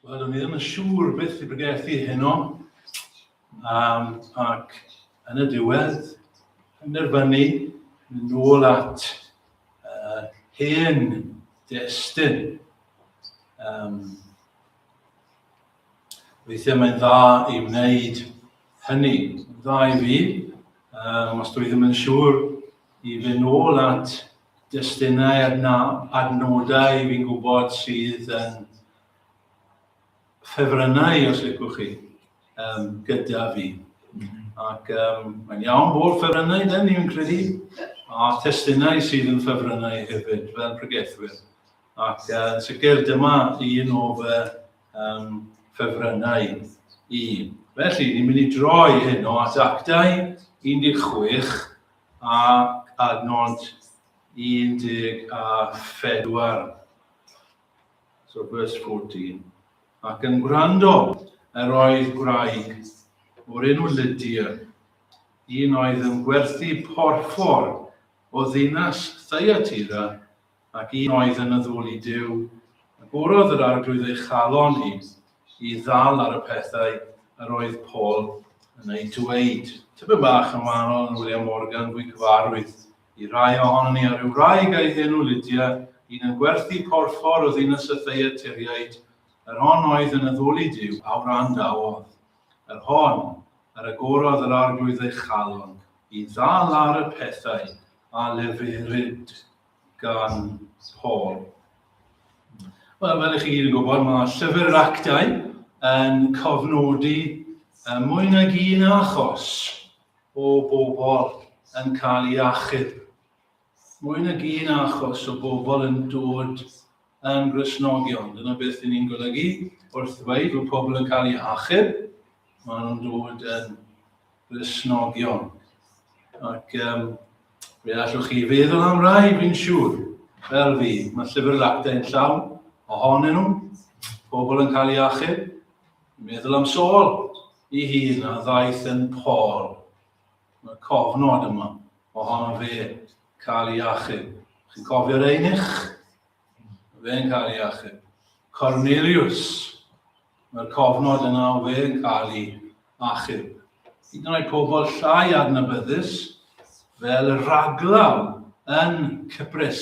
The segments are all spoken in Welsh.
Wel, o'n i ddim yn siŵr beth i bregeth i heno, um, ac yn y diwedd, yn nerfynu, mynd ôl at uh, hen destyn. Um, Weithiau mae'n dda i wneud hynny. Mae'n dda i fi, um, os dwi ddim yn siŵr, i fy nôl at destunau adna, adnodau fi'n gwybod sydd yn ffefrynnau, os licwch chi, um, gyda fi. Ac um, mae'n iawn bod ffefrynnau, da ni'n credu, a testunau sydd yn ffefrynnau hefyd, fel pregethwyr. Ac uh, sicr dyma un o fy um, ffefrynnau i. Felly, ni'n mynd i droi hyn o at actau 16 a adnod 14. So, verse 14. Ac yn gwrando, yr oedd gwraig o'r enw Lydia, un oedd yn gwerthu porffor o ddinas Thyatira ac un oedd yn addoli Duw, a bwrodd yr Arglwydd ei chalon i, i ddal ar y pethau yr oedd Paul yn eu dweud. Typyn bach yn wahanol yn William Morgan, fwy cyfarwydd i rai ohono ni, a rhyw wraig a'i henw Lydia, un yn gwerthu porffor o ddinas y Theiatiriaid, yr hon oedd yn addoli Duw, a wrandawodd, yr hon, yr agorodd yr Arglwydd ei chalon, i ddal ar y pethau a leferid. gan Paul. Wel, fel ych chi gyd yn gwybod, mae llyfr yr actau yn cofnodi uh, mwy nag un achos o bobl yn cael ei achub. Mwy nag un achos o bobl yn dod yn Gristnogion. Dyna beth dyn ni'n golygu wrth ddweud bod pobl yn cael eu hachub, maen nhw'n dod yn Gristnogion. Ac um, fe allwch chi feddwl am rai, fi'n siŵr, fel fi. Mae llyfr yr actau yn llawn ohonyn nhw, pobl yn cael eu achub. Meddwl am Saul i hun a ddaeth yn Paul. Mae cofnod yma ohono fe cael ei achub. Chi'n cofio'r einych? Fe'n cael ei achub. Cornelius, mae'r cofnod yna o fe'n cael ei achub. Hyd yn oed pobl llai adnabyddus, fel y raglaw yn Cyprus,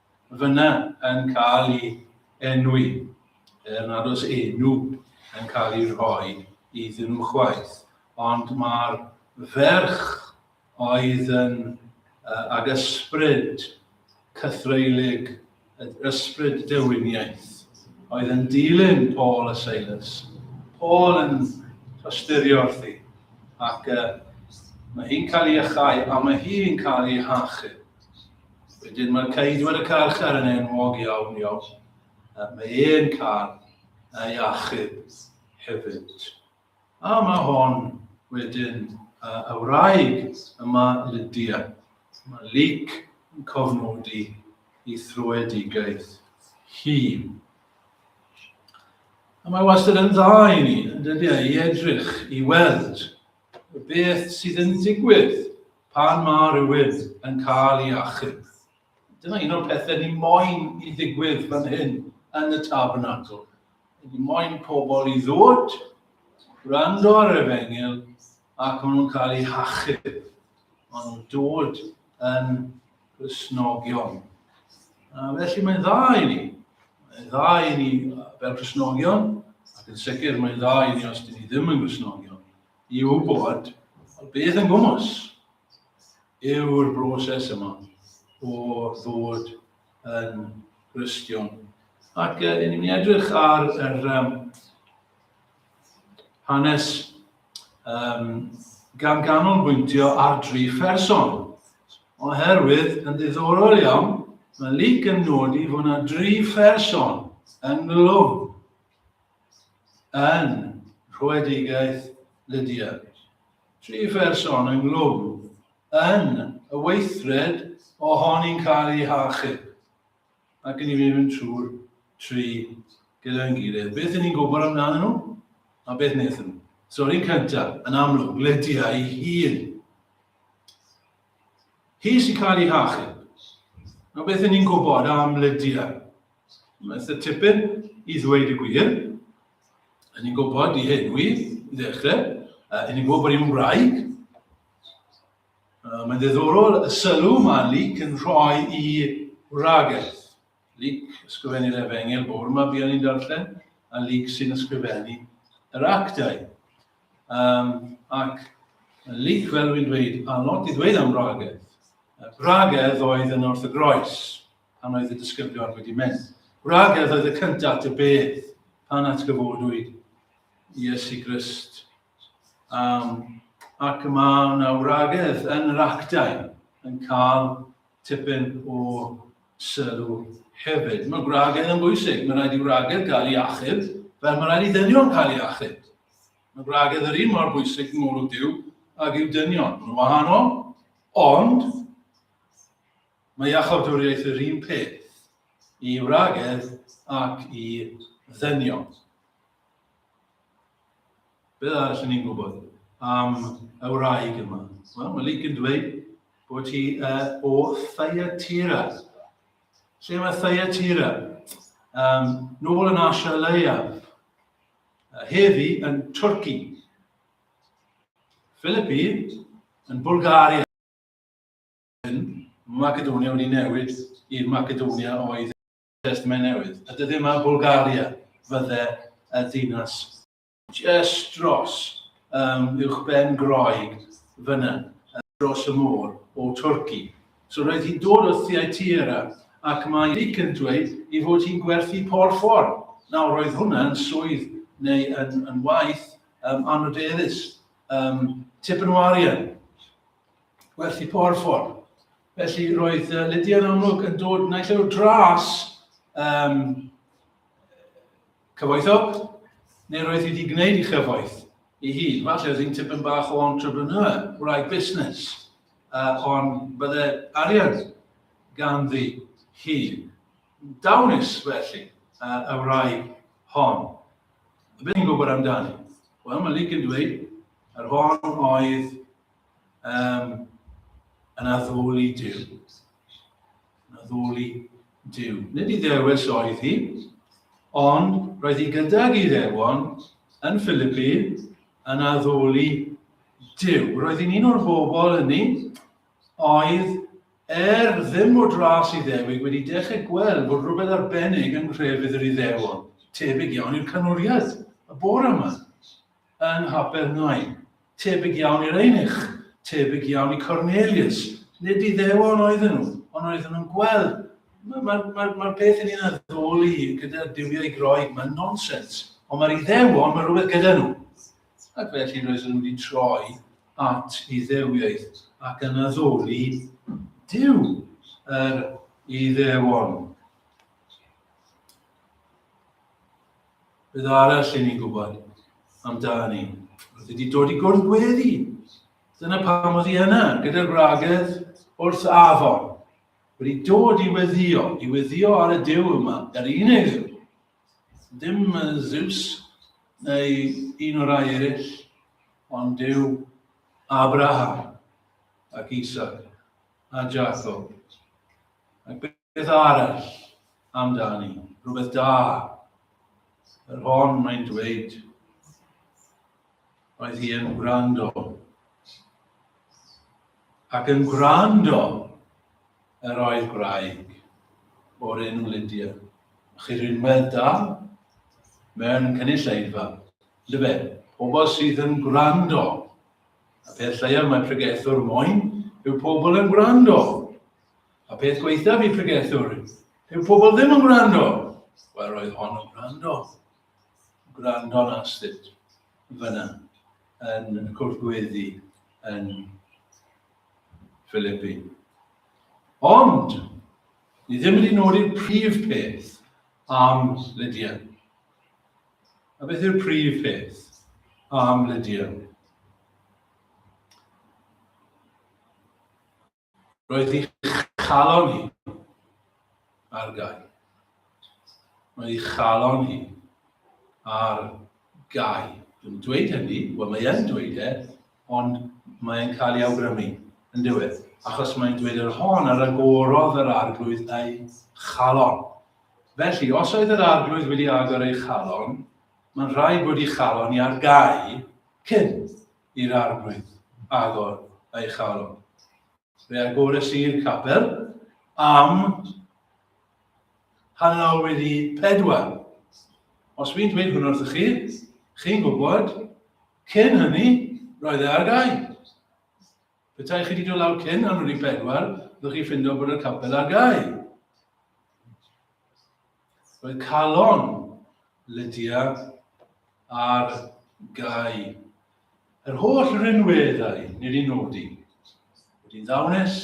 fyna yn cael ei enwi, er nad oes enw yn cael ei rhoi iddyn nhw chwaith, ond mae'r ferch oedd yn uh, ag ysbryd cythreulig, ysbryd dewiniaeth, oedd yn dilyn Paul a Silas. Paul yn tosturio wrthi, ac uh, mae hi'n cael ei achau, a mae hi'n cael ei hachub. Wedyn mae'r ceidwad y carchar yn enwog iawn iawn. Mae e'n cael ei achub hefyd. A mae hon wedyn y wraig yma Lydia. Mae Luc yn cofnodi i thrwedigaeth hi. A mae wastad yn dda i ni, yn dydy, e, i edrych, i weld y beth sydd yn digwydd Pan mae rhywun yn cael ei achub, dyna un o'r pethau ni moyn i ddigwydd fan hyn yn y tabernacl. Ni moyn pobl i ddod, gwrando ar yr efengil, ac maen nhw'n cael eu hachub. Maen nhw'n dod yn Gristnogion. A felly mae'n dda i ni. Mae'n dda i ni fel Gristnogion, ac yn sicr mae'n dda i ni os dyn ni ddim yn Gristnogion. i wybod beth yn gwmws yw'r broses yma o ddod yn Gristion. Ac uh, ni'n mynd edrych ar yr um, hanes um, gan ganolbwyntio ar dri pherson. Oherwydd, yn ddiddorol iawn, mae Luc yn nodi fod yna dri pherson ynghlwm yn rhoedigaeth Lydia. Tri pherson ynghlwm yn y weithred ohoni'n cael eu hachub. Ac yn i fi mynd trwy'r tri gyda'n gilydd. Beth ni'n gwybod amdanyn nhw? A beth wnaethon nhw? So, un cyntaf, yn amlwg, Lydia ei hun. Hi sy'n cael ei hachub. A beth ni'n gwybod am Lydia? Mae'n eitha tipyn i ddweud y gwir. Yn ni'n gwybod i hyn wydd, i ddechrau. Yn ni'n gwybod bod hi'n wraig. Mae'n ddiddorol y sylw mae Luc yn rhoi i wragedd. Luc, ysgrifennu'r efengel bore yma buon ni'n darllen, a Luc sy'n ysgrifennu yr actau. Um, ac Luc, fel rwy'n dweud, a lot i ddweud am wragedd. Bragedd oedd yn wrth y groes. pan oedd y disgyblion wedi mynd. Gwragedd oedd y cyntaf dy bedd pan atgyfodwyd Iesu Grist. Um, ac mae yna wragedd yn yr actau yn cael tipyn o sylw hefyd. Mae gwragedd yn bwysig. Mae rhaid i wragedd gael ei achub, fel mae rhaid i ddynion cael ei achub. Mae gwragedd yr un mor bwysig yn ôl o Dyw ag yw dynion. Mae'n wahanol, ond Mae iachawdwriaeth yr un peth i wragedd ac i ddynion. Beth arall yn ni'n gwybod am y wraig yma? Wel, mae Luke yn dweud bod hi uh, o Thyatira. Lle mae Thyatira? Um, nôl yn Asia Leia, heddi yn Twrci, Philippi yn Bulgaria. yn Macedonia wedi newid i'r Macedonia oedd yn Testament Newydd. A dydy yma Bulgaria fydde y ddinas just dros um, uwch ben Groeg fyna, dros y môr o Twrci. So roedd hi'n dod o Theatira ac mae Dic yn dweud i fod hi'n gwerthu por ffordd. Nawr roedd hwnna yn swydd neu yn, yn waith um, anodeddus, um, tipyn o arian. Werth i po'r ffordd. Felly roedd uh, Lydia'n amlwg yn dod naill o'r dras um, cyfoethog, neu roedd hi wedi gwneud i chyfoeth i hi. Falle oedd hi'n tipyn bach o entrepreneur, wraig busnes, uh, ond bydde arian ganddi hi. Dawnus felly uh, y wraig hon. A beth ni'n gwybod amdani? Wel, mae Luke yn dweud, yr hon oedd um, yn addoli Dyw. Yn addoli Dyw. Nid i ddewis oedd hi, ond roedd hi gydag i ddewon yn Philippi yn addoli Dyw. Roedd hi'n un o'r bobl hynny oedd er ddim o dras i ddewig wedi dechrau gweld bod rhywbeth arbennig yn nhrefydd yr iddewon, tebyg iawn i'r canoriaeth y bore yma. Yn nhapedd Nain. Tebyg iawn i'r eunuch, tebyg iawn i Cornelius. Nid Iddewon oedden nhw, ond oedden nhw'n gweld. Mae'r ma, ma, ma, ma peth yn un addoli gyda duwiau Groeg, mae'n nonsens. Ond mae'r Iddewon, mae rhywbeth gyda nhw. Ac felly roedden nhw wedi troi at Iddewiaid ac yn addoli Dyw yr Iddewon. Beth arall i ni'n gwybod amdani? Roedd wedi dod i gwrdd gweddi. Dyna pam oedd hi yna, gyda'r gwragedd wrth afon. Wedi dod i weddio, i weddio ar y dew yma, yr unig ddew. Dim Zeus neu un o'r rai eraill, ond dew Abraham ac Isaac a Jacob. Ac Beth arall amdani? Rhywbeth da. Yr hon mae'n dweud. Oedd hi yn gwrando. Ac yn gwrando yr oedd gwraig o'r enw Lydia. Chi rinwedd da mewn cynulleidfa. Llyfe, pobl sydd yn gwrando. A peth lleiaf mae pregethwr moyn yw pobl yn gwrando. A peth gweithaf i pregethwr, yw pobl ddim yn gwrando. Wel, roedd hon yn gwrando. Gwrando'n astudd fyna yn y cwrdd gweddi yn Philippi. Ond, ni ddim wedi nodi'r prif peth am Lydia. A beth yw'r prif peth am Lydia? Roedd eich calon hi ar gau. Roedd eich calon hi ar gau. Dwi'n dweud hynny, wel mae e'n dweud e, ond mae'n cael ei awgrymu yn diwedd, achos mae'n dweud yr hon ar agorodd yr arglwydd ei chalon. Felly, os oedd yr arglwydd wedi agor ei chalon, mae'n rhaid bod ei chalon i ar gau cyn i'r arglwydd agor ei chalon. Fe agores i'r capel am hanner wedi pedwar. Os fi'n dweud hwn wrthych chi, chi'n gwybod, cyn hynny, roedd e ar gau. Petai chi wedi dod lawr cyn hanner wedi pedwar, byddwch chi ffindo bod y capel ar gau. Mae calon Lydia ar gau. Yr holl rinweddau nid i nodi. Wedi'n ddawnus,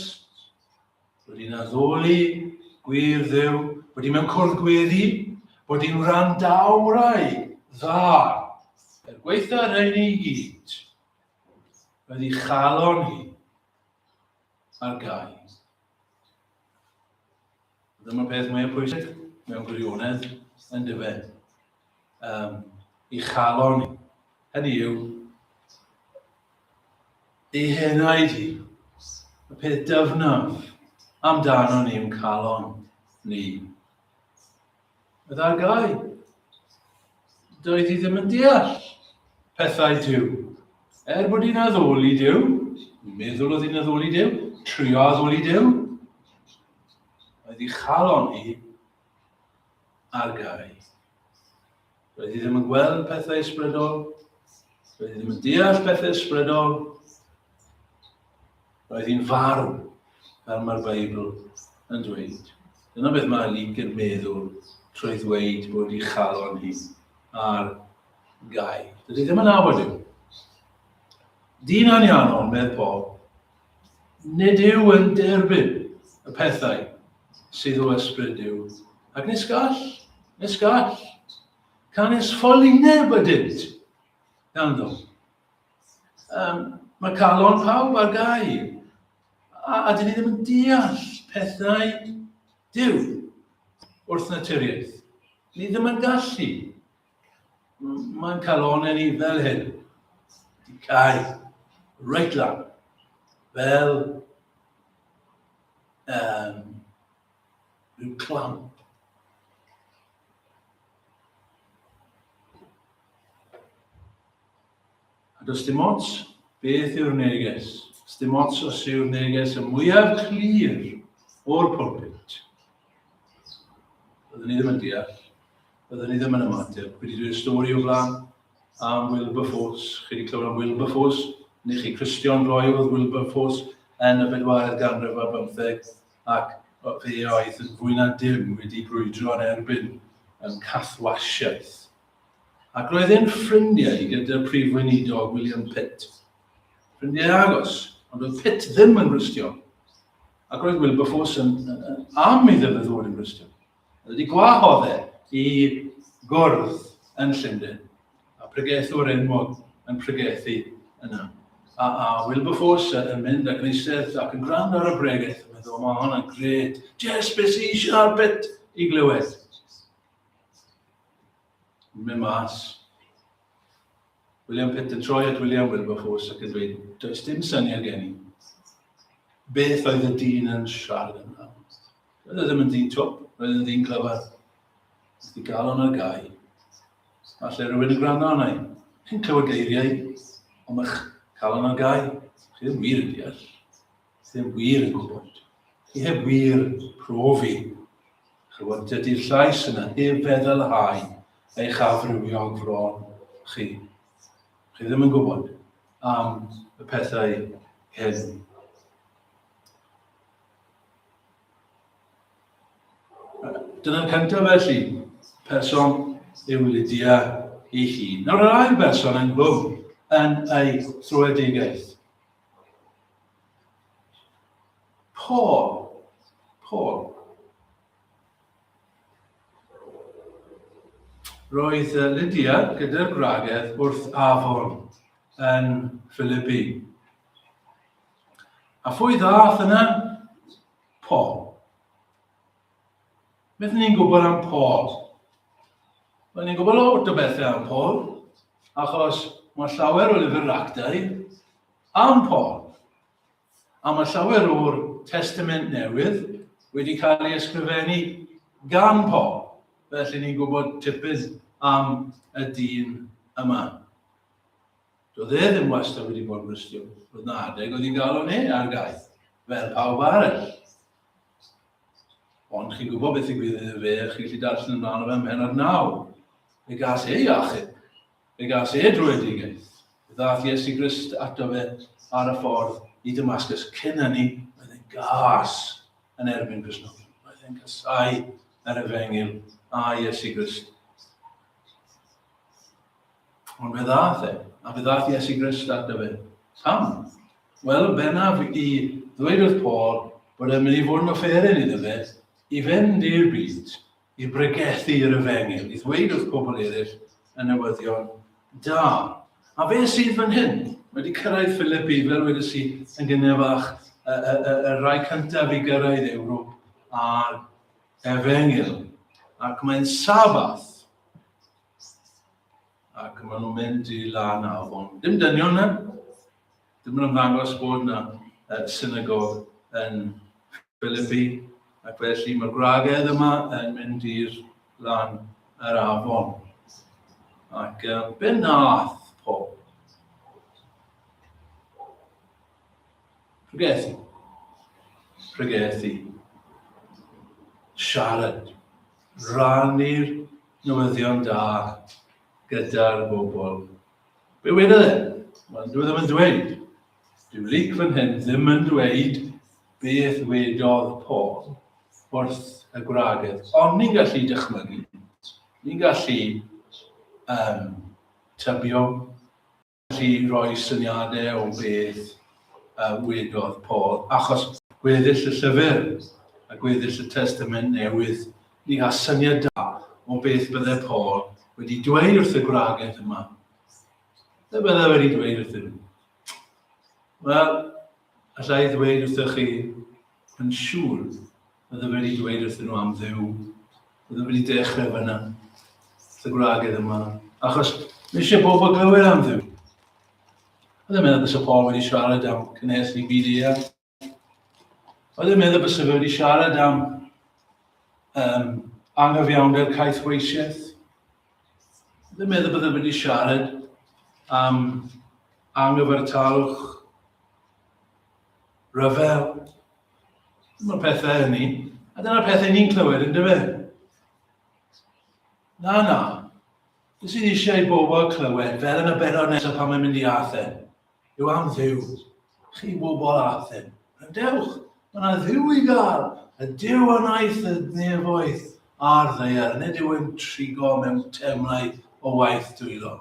wedi'n addoli, gwir ddew, wedi mewn cwrdd gweddi, bod i'n wrandawrau dda. Er gweitha rhain i gyd, roedd ei chalon hi ar gau. Dyma peth mwyaf pwysig mewn gwirionedd, yn dyfe, um, i chalon ni. Hynny yw, ei henau di, y peth dyfnaf amdano ni yn calon ni. Meddagai, doedd hi ddim yn deall pethau Dyw. Er bod hi'n addoli Dyw, meddwl oedd hi'n addoli Dyw, trio addoli Dyw, oedd hi chalon hi ar gau. Roedd hi ddim yn gweld pethau ysbrydol. Roedd hi ddim yn deall pethau ysbrydol. Roedd hi'n farw, fel mae'r Beibl yn dweud. Dyna beth mae Luc yn meddwl trwy ddweud bod ei chalon hi ar gau. Dydy ddim yn nabod yw. Dyn anianol, medd Paul, Nid yw yn derbyn y pethau sydd o ysbryd Duw. Ac nes gall, nes gall, canys ffolineb ydynt ganddo. Um, mae calon pawb ar gau, a, a dyn ni ddim yn deall pethau Duw wrth naturiaeth. Ni ddim yn gallu Mae'n calonau ni fel hyn. Di cael reit lan. Fel um, rhyw clamp. A does dim ots beth yw'r neges, does dim ots os yw'r neges y mwyaf clir o'r pulpit. Byddwn ni ddim yn deall, byddwn ni ddim yn ymateb. Wedi dweud stori o flan am Wilberforce, chi wedi clywed am Wilberforce, ni chi Christian Roy oedd Wilberforce yn y bedwaredd ganrif ar bymtheg, ac fe oedd yn fwy na dim wedi brwydro yn erbyn yn cathwasiaeth Ac roedd e'n ffrindiau gyda Prif Weinidog William Pitt. Ffrindiau agos, ond oedd Pitt ddim yn Gristion. Ac roedd Wilberforce yn, yn, yn am i ddim ddod yn Gristion. Oedd wedi gwahodd e i gwrdd yn Llundain, a pregethwr enwog yn pregethu yna. A, a Wilberforce yn mynd ac yn eistedd ac yn gwrando ar y bregeth, yn meddwl, mae hwnna'n gret, jes beth sy'n eisiau ar bit i glywed. Yn mynd mas. William Pitt yn troi at William Wilberforce ac yn dweud, does dim syniad gen i. Beth oedd y dyn yn siarad yn dda? Roedd e ddim yn dyn twp, roedd yn dyn clyfar. Ysdi gael o'n ar gau. Falle rhywun yn gwrando arna i. Chi'n clywed geiriau, ond mae'ch cael o'n ar gau. Chi ddim wir yn deall. ddim wir yn gwybod. Chi heb wir profi. Chywod, dydy'r llais yna heb feddylhau eich afrywiol fron chi. Chi ddim yn gwybod am y pethau hyn. Dyna'r cyntaf felly, person yw Lydia ei hun. Nawr yr ail berson yn gwm yn ei thrwedigaeth. Paul. Paul. Roedd Lydia gyda'r gwragedd wrth afon yn Philipi. A phwy ddath yna? Paul. Beth ni'n gwybod am Paul? Wel, ni'n gwybod lot o bethau am Paul, achos mae llawer o lyfr actau am Paul. A mae llawer o'r testament newydd wedi cael ei ysgrifennu gan Paul. Felly ni'n gwybod tipyn am y dyn yma. Doedd e ddim wastad wedi bod yn Gristion. Roedd na adeg oedd hi'n galw ni ar gaeth, fel pawb arall. Ond chi'n gwybod beth i gwir fe, chi'n gallu darllen ymlaen o fe mhen ar naw. Fe gas ei achub, fe gas ei drwyedigaeth. Fe ddath Iesu Grist ato fe ar y ffordd i Damascus. Cyn hynny, oedd e'n gas yn erbyn Cresnogi. Oedd e'n casau yr efengil a Iesu Grist. Ond fe ddath e, a fe ddath Iesu Grist ato fe. Pam? Wel, yn bennaf i ddweud wrth Paul bod e'n mynd i fod yn offeryn iddo fe i fynd i'r byd, i bregethu yr efengyl, i ddweud wrth pobl eraill y newyddion da. A fe sydd fan hyn, wedi cyrraedd Philippi, fel wedi si, yn gynnydd fach, y, y, y, y rai cyntaf i gyrraedd Ewrop a'r efengyl. Ac mae'n sabath Ac maen nhw'n mynd i lan a afon. Dim dynion na. Dim yn ymddangos bod yna uh, synagog yn Philippi. Ac felly mae'r gwragedd yma yn mynd i'r lan yr afon. Ac uh, be nath Paul? Pregethu. Pregethu. Siarad rannu'r newyddion da gyda'r bobl. Be wedodd e? Wel, dwi e ddim yn dweud. Dyw Luc fan hyn ddim yn dweud beth wedodd Paul wrth y gwragedd. Ond ni'n gallu dychmygu, ni'n gallu um, tybio, gallu rhoi syniadau o beth a wedodd Paul, achos gweddill y llyfr a gweddill y Testament Newydd, ni gall syniad da o beth bydde Paul wedi dweud wrth y gwragedd yma. Beth bydde wedi dweud wrthyn nhw? Wel, allai ddweud wrthych chi yn siŵr Oedd e wedi dweud wrthyn nhw am Dduw. Oedd e wedi dechrau fyna. Dy gwragedd yma. Achos mae eisiau pobl glywed am Dduw. Oedd e'n meddwl bys y Paul wedi siarad am cynnes i byd ia. Oedd e'n meddwl bys y fe wedi siarad am um, anghyfiawnder caeth weisiaeth. Oedd e'n meddwl bydde wedi siarad am anghyfartalwch rhyfel Dyma pethau yn ni. A dyna pethau ni'n clywed yn dyfa. Na, na. Beth sydd eisiau i bobl clywed, fel yn y benod nesaf pan mae'n mynd i Athen, yw am ddiw. Chi bobl Athen, rydewch, mae yna ddiw i gael, y diw a wnaeth y nefoedd a'r ddeiar, nid yw'n trigo mewn temlau o waith dwylo.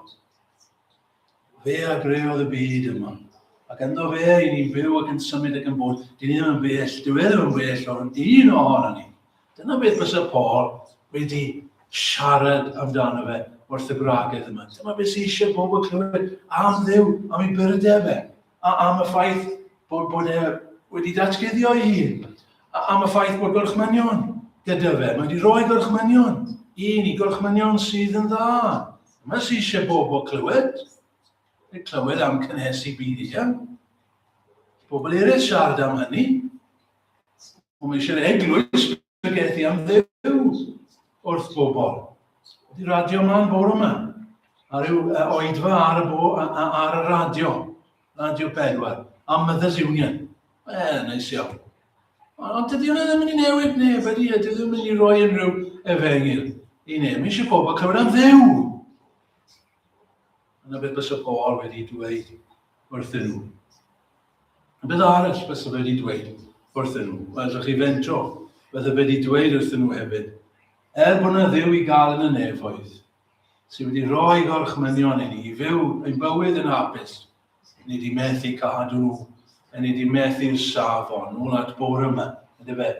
Fe a greodd y byd yma, ac ynddo fe i ni'n byw ac yn symud ac yn bod. Dyn ni ddim yn bell, dyw e ddim yn bell o'n un ohono ni. Dyna beth fysa Paul wedi siarad amdano fe wrth y gwragedd yma. Dyma beth sy'n eisiau pobl clywed am ddew, am ei byrde fe. a am y ffaith bod, bod e wedi datguddio ei hun, a am y ffaith bod gorchmynion gyda fe. Mae wedi rhoi gorchmynion i ni, gorchmynion sydd yn dda. Mae sy'n eisiau bobl clywed, neu clywed am cynhesu byd eang. Pobl eraill siarad am hynny, ond mae eisiau'r eglwys Bygethi am ddew wrth bobl. Di radio ma'n bor yma. A rhyw uh, oedfa ar y, bo, ar y radio. Radio pedwar. A Mothers Union. E, neis iawn. Ond dydy hwnna ddim yn newid neb, wedi e, dydy ddim yn rhoi unrhyw efengil i neb. Mae eisiau pobl clywed am ddew. Yna beth bys y Paul wedi dweud wrthyn nhw. Beth arall bysa fe wedi dweud wrthyn nhw? Wel, dych chi fentro, bysa fe wedi dweud wrthyn nhw hefyd, er bod yna dduw i gael yn y nefoedd, sydd wedi rhoi gorchmynion i ni i fyw ein bywyd yn hapus, ni wedi methu cadw nhw, a ni wedi methu'r safon, nôl at bore yma, ydy fe,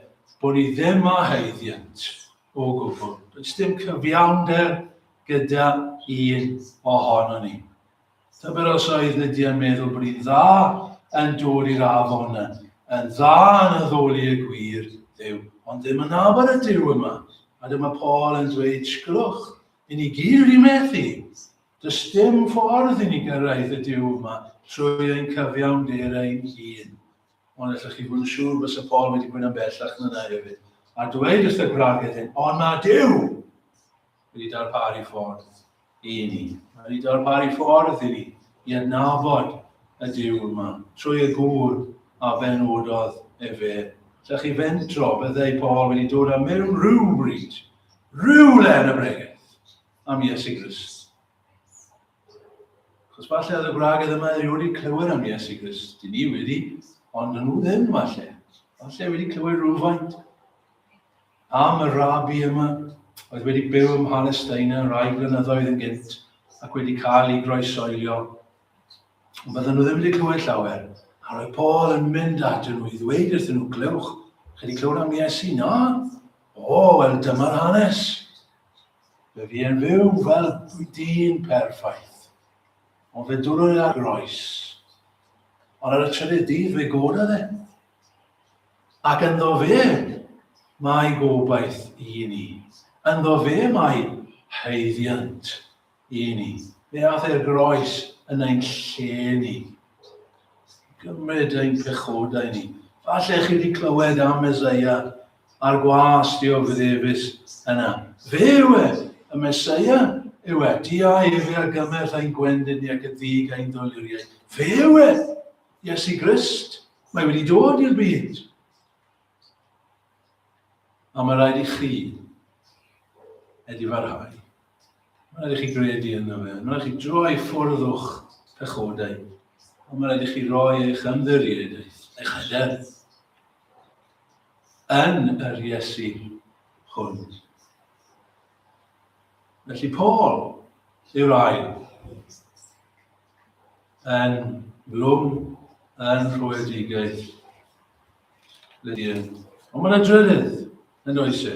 bod ni ddim a haeddiant o gwbl. Does dim cyfiawnder gyda un ohono ni. Tybed os oedd Lydia yn meddwl bod hi'n dda yn dod i'r afon, yn dda yn addoli y gwir, ddew, ond ddim yn afon y Duw yma. A dyma Paul yn dweud, sgylwch, i ni gyd wedi methu. Does dim ffordd i ni gyrraedd y Duw yma trwy ein cyfiawnder ein hun. Ond allwch chi fod yn siŵr bod y Paul wedi bod yn bellach na hefyd. A dweud wrth y gwragedd hyn, ond na Duw! Wedi darparu ffordd i ni. Mae wedi darparu ffordd i ni i adnabod y Duw yma, trwy y gŵr a benododd efe. Lle chi fentro, byddai Paul wedi dod â mewn rhywbryd, rhywle yn y bregeth, am Iesu Grist. Chos falle oedd y gwragedd yma erioed wedi clywed am Iesu Grist. Dyn ni wedi, ond yn nhw ddim falle. Falle wedi clywed rhywfaint. Am y rabi yma, oedd wedi byw ym Mhalesteina rai blynyddoedd yn gynt ac wedi cael ei groesoelio. Ond bydden nhw ddim wedi clywed llawer. A roedd Paul yn mynd atyn nhw i ddweud wrthyn nhw, glywch, chi wedi clywed am Iesu? Na? O, wel dyma'r hanes. Fe fi yn fyw fel dyn perffaith. Ond fe dwrwyd ar groes. Ond ar y trydydd dydd fe gododd e. Ac ynddo fe mae gobaith i ni. Ynddo fe mae haeddiant i ni. Fe ath e'r groes yn ein lle ni. Gymryd ein pechodau ni. Falle chi wedi clywed am Mesoea a'r gwas dioddefus yna. Fe yw e, y Mesoea yw e. Di a efe ar gymell ein gwendid ni ac y ddig ein doluriaid. Fe yw e! Iesu Grist, mae wedi dod i'r byd. A mae rhaid i chi edifarhau. Mae rhaid i chi gredu yno fe. Mae rhaid i chi droi ffwrdd o'ch pechodau. Ond mae rhaid i chi roi eich ymddiriedau, eich hyder, yn yr Iesu hwn. Felly Paul yw'r ail. yn lwm yn rhwydigaeth. Lydia. Ond mae'n drydydd yn oes e.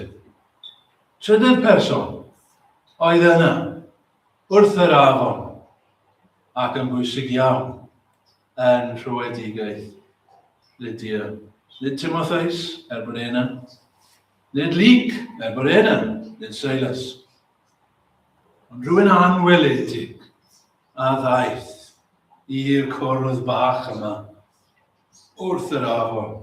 Trydydd person oedd yna wrth yr afon ac yn bwysig iawn yn rhywedigaeth Lydia. Nid Timotheus, er bod e yna. Nid Lyc, er bod e yna. Nid Silas. Ond rhywun anweledig a ddaeth i'r cwrdd bach yma wrth yr afon.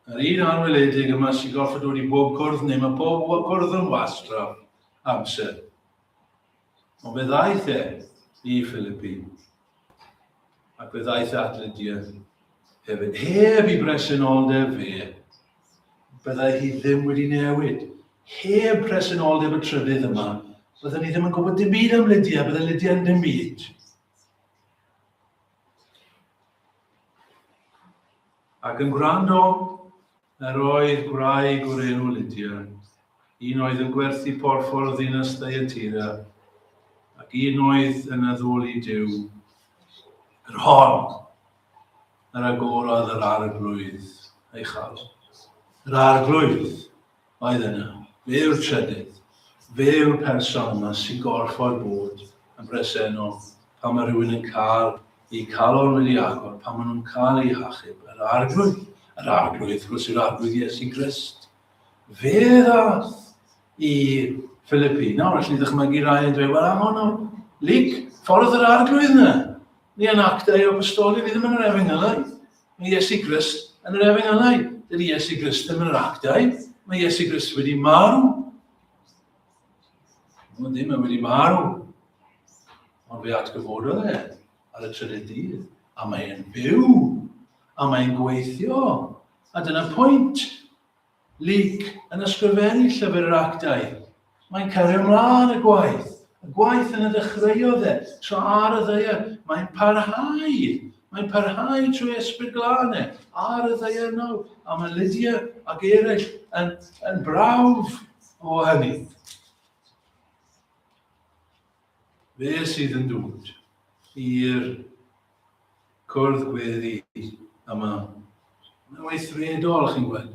Yr un anweledig yma sy'n gorfod dod i bob cwrdd neu mae pob cwrdd yn wastraff amser. Ond fe ddaeth e i Philippi ac fe ddaeth at Lydia hefyd, heb i bresenoldeb fe byddai hi ddim wedi newid. Heb presenoldeb y trydydd yma, byddwn ni ddim yn gwybod dim byd am Lydia, byddai Lydia yn dim byd. Ac yn gwrando, yr oedd gwraig o'r enw Lydia, un oedd yn gwerthu porffor o ddinas Thyatira, ac un oedd yn addoli Dyw, yr hon. Yr agorodd yr Arglwydd ei chal. Yr Arglwydd oedd yna. Fe yw'r trydydd. Fe yw'r person yma sy'n gorfod bod yn bresennol pan mae rhywun yn cael eu calon wedi agor, pan maen nhw'n cael eu hachub. Yr Arglwydd. Yr Arglwydd, wrth gwrs, yw'r Arglwydd Iesu Grist. Fe ddath i Philippi. Nawr, allu ddychmygu rai yn dweud, wel, am hwnnw, Luc, ffordd yr Arglwydd yna. Ni yn actau o'r stori, ni ddim yn yr efengylau. Mae Iesu Grist yn yr efengylau. Dydy Iesu Grist ddim yn yr actau. Mae Iesu Grist wedi marw. Mae ddim yn wedi marw. Ond fe atgyfododd e ar y trydydd dydd. A mae'n byw. A mae'n gweithio. A dyna pwynt. Luc, yn ysgrifennu Llyfr yr Actau, mae'n cario mlaen y gwaith, y gwaith yn y ddechreuodd e, tra ar y ddaear, mae'n parhau, mae'n parhau trwy esbryd glân e, ar y ddaear nawr, a mae Lydia ac eraill yn, yn brawf o hynny. Fe sydd yn dod i'r cwrdd gweddi yma. Mae'n weithredol, chi'n gweld.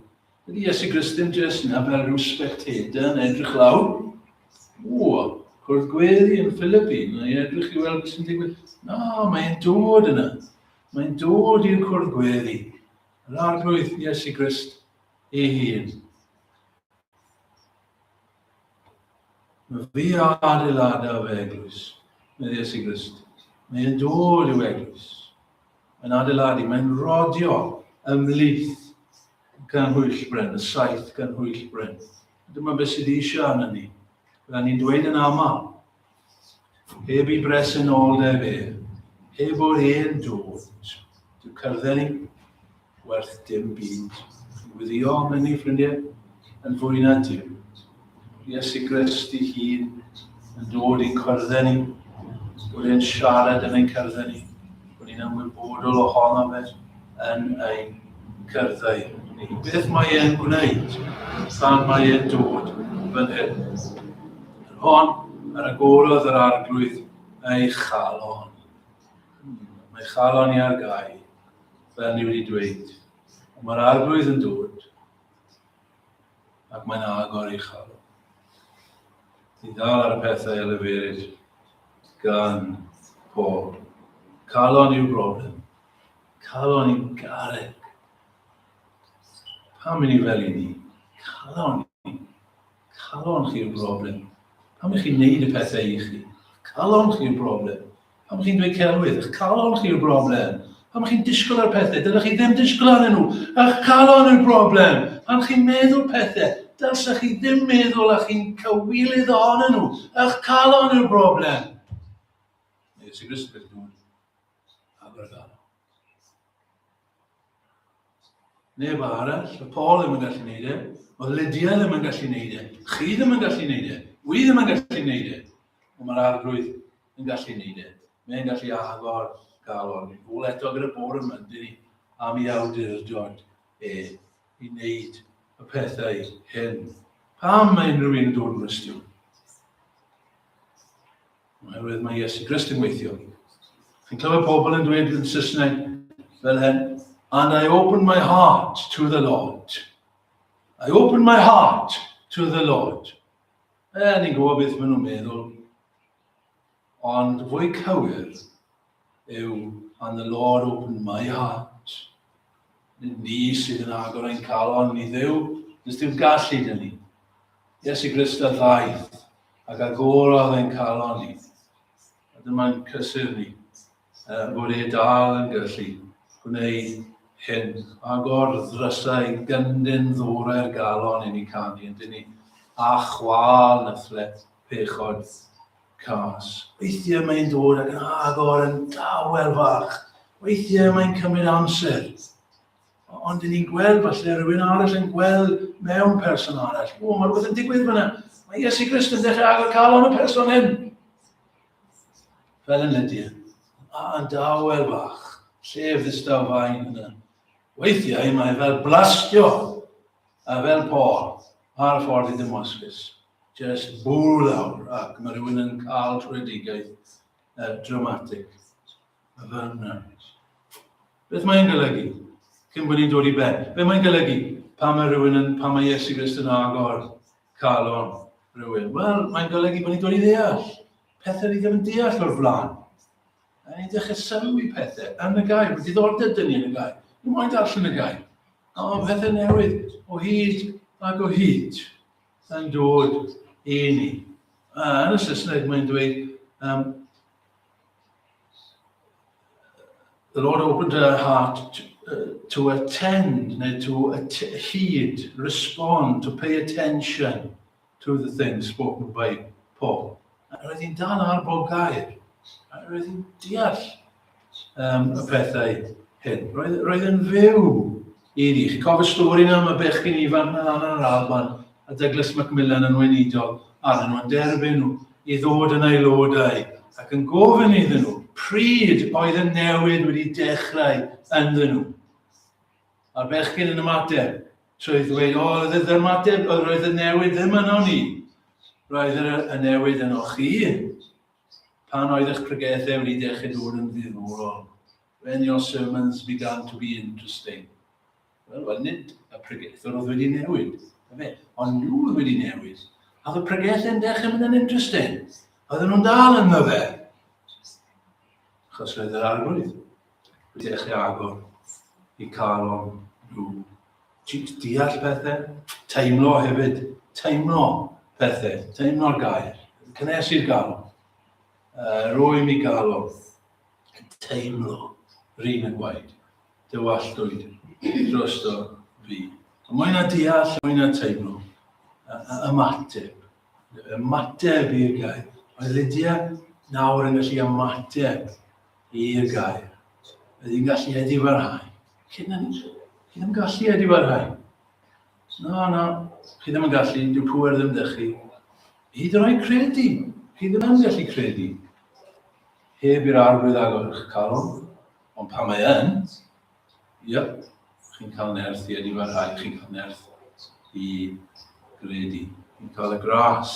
Ydy Iesu Grist ddim jyst na fel rhyw spectator yn edrych lawr. O, cwrdd gweddi yn Philippi, mae'n edrych i weld beth sy'n digwydd. Na, mae'n dod yna. Mae'n dod i'r cwrdd gweddi. Yr arglwydd Iesu Grist ei hun. Mae fi a adeiladau fy eglwys, meddai Iesu Grist. Mae'n dod i'w eglwys. Mae'n adeiladu, mae'n rodio ymlith gan hwyll bryn, y saith gan hwyll bryn. Dyma beth sydd eisiau arno ni. Byddwn ni'n dweud yn aml, Heb i bresenoldeb e, heb o'r hen dod, dy cyrddau ni, werth dim byd. Yn wyddio am hynny, ffrindiau, yn fwy na dim. Iesu Grist i hun yn dod i'n cyrddau ni, bod e'n siarad yn ein cyrddau ni, bod ni'n ymwybodol ohono fe, yn ein cyrddau ni. Beth mae e'n gwneud tan mae e'n dod fan hyn? Yr hon ar agorodd yr arglwydd ei chalon. Mae chalon i ar gau, fel ni wedi dweud. Mae'r arglwydd yn dod ac mae'n agor ei chalon. Ti'n dal ar y pethau y leferyd gan pob. Calon yw'r broblem. Calon i'n garreg. Pam i ni fel i ni? Calon i. Calon chi yw'r broblem. Pam i chi'n neud y pethau i chi? Calon chi yw'r broblem. Pam chi'n dweud celwydd? Ych calon chi yw'r broblem. Pam chi'n disgwyl ar pethau? Dylech chi ddim disgwyl arnyn nhw. Ych calon yw'r broblem. Pam chi'n meddwl pethau? Dylech chi ddim meddwl a chi'n cywilydd ohonyn nhw. Ych calon yw'r broblem. Neu sy'n ysbryd Aberdâr. Neb arall, y Paul ddim yn gallu neud e, o Lydia ddim yn gallu neud e, chi ddim yn gallu neud e, wy ddim yn gallu neud e, ond mae'r arglwydd yn gallu neud e. Mae'n gallu agor galon. Yn ôl eto gyda bor yma, dyn ni, am i awdurdod e i wneud y pethau hyn. Pam mae unrhyw un yn dod yn gwestiwn? Oherwydd mae Iesu Grist yn gweithio. Chi'n clywed pobl yn dweud yn Saesneg fel hyn, and I open my heart to the Lord. I open my heart to the Lord. E, ni'n gwybod beth maen nhw'n meddwl. Ond fwy cywir, yw And the Lord opened my heart. Ni sydd yn agor ein calon i ddew, nes dim gallu dyn ni. Iesu Grist a ddaeth ac agorodd ein calon ni. A dyma'n cysur ni uh, bod e dal yn gallu gwneud hyn. Agor ddrysau gyndyn ddwrau'r galon i ni canu, yn dyn ni, a chwal na thlet pechod cas. Weithiau mae'n dod ac yn agor yn dawel fach. Weithiau mae'n cymryd amser. Ond dyn ni'n gweld falle rhywun arall yn gweld mewn person arall. O, mae rhywbeth yn digwydd fyna. Mae Iesu Grist yn dechrau agor calon y person hyn. Fel yn Lydia. A yn dawel fach. Llef ddistaw fain yna. Weithiau mae fel blastio A fel Paul, ar y ffordd i Damascus, jyst bŵ lawr ac mae rhywun yn cael trwedigaeth uh, dramatic. A fel yna. Beth mae'n golygu? Cyn bod ni'n dod i ben. Beth mae'n golygu? Pa mae rhywun yn, pa mae Iesu Grist yn agor calon rhywun? Wel, mae'n golygu bod ni'n dod i ddeall. Pethau ni ddim yn deall o'r flaen. A ni'n dechrau sylw i pethau yn y gair. Mae diddordeb dyn ni yn y gair. Ni'n moyn darllen y gair. O, pethau newydd o hyd ac o hyd yn dod i ni. A yn y Saesneg mae'n dweud, um, the Lord opened her heart to, uh, to attend, neu to at hyd, respond, to pay attention. to the things spoken by Paul. A roedd hi'n dal ar bob gair. A roedd hi'n deall um, y pethau hyn. Roedd, roedd yn fyw i ni. Chi'n cofio stori na am y bechgyn ifanc na lan yr Alban a Douglas Macmillan yn weinidol arnyn nhw'n derbyn nhw i ddod yn aelodau ac yn gofyn iddyn nhw pryd oedd y newid wedi dechrau ynddyn nhw. A'r bechgyn yn ymateb, trwy ddweud, O, oedd yr ymateb, oedd roedd y newid ddim yno ni. Roedd yr y newid yno chi. Pan oedd eich pregethau wedi dechrau dod yn ddiddorol. When your sermons began to be interesting. Wel, wel, nid y pregethwr oedd wedi newid. Fe, ond nhw oedd wedi newid. A oedd y pregethau yn dechrau mynd yn interesting. Oedden nhw'n dal yn fe. Chos roedd yr arglwydd wedi dechrau agor i cael o'n nhw. Deall pethau, teimlo hefyd, teimlo pethau, teimlo'r gair, cynhesu'r galon, uh, rwy'n mi galon, teimlo, rhywun yn gwaed, dywalltwyd, drosto fi. Mwy na deall, mwy na teimlo, ymateb, ymateb i'r gair. Mae Lydia nawr yn gallu ymateb i'r gair. Bydd hi'n gallu eddi warhau. Chi ddim, chi ddim gallu eddi warhau. Na, na, chi ddim yn gallu, dyw pwer ddim dych chi. Hyd yn oed credu, chi ddim yn gallu credu. Heb i'r arwydd agor eich calon, ond pan mae yn, Yep, chi'n cael nerth i edifo rhai, chi'n cael nerth i gredu. Chi'n cael y gras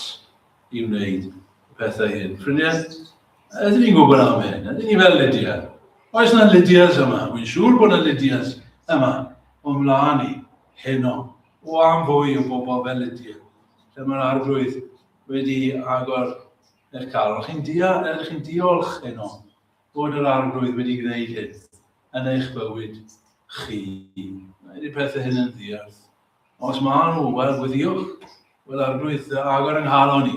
i wneud y pethau hyn. Ffrindiau, ydyn ni'n gwybod am hyn? Ydyn ni fel Lydia? Oes yna Lydias yma? Wy'n siŵr bod yna Lydias yma o'n mlaen ni heno o am fwy o bobl fel Lydia. Lle mae'r arglwydd wedi agor eich calon. Chi'n dia, chi'n diolch heno bod yr arglwydd wedi gwneud hyn. yn eich bywyd chi. Mae y pethau hyn yn ddiarth. Os maen nhw, wel, gweddiwch. Wel, arglwydd, agor yng nghalon i.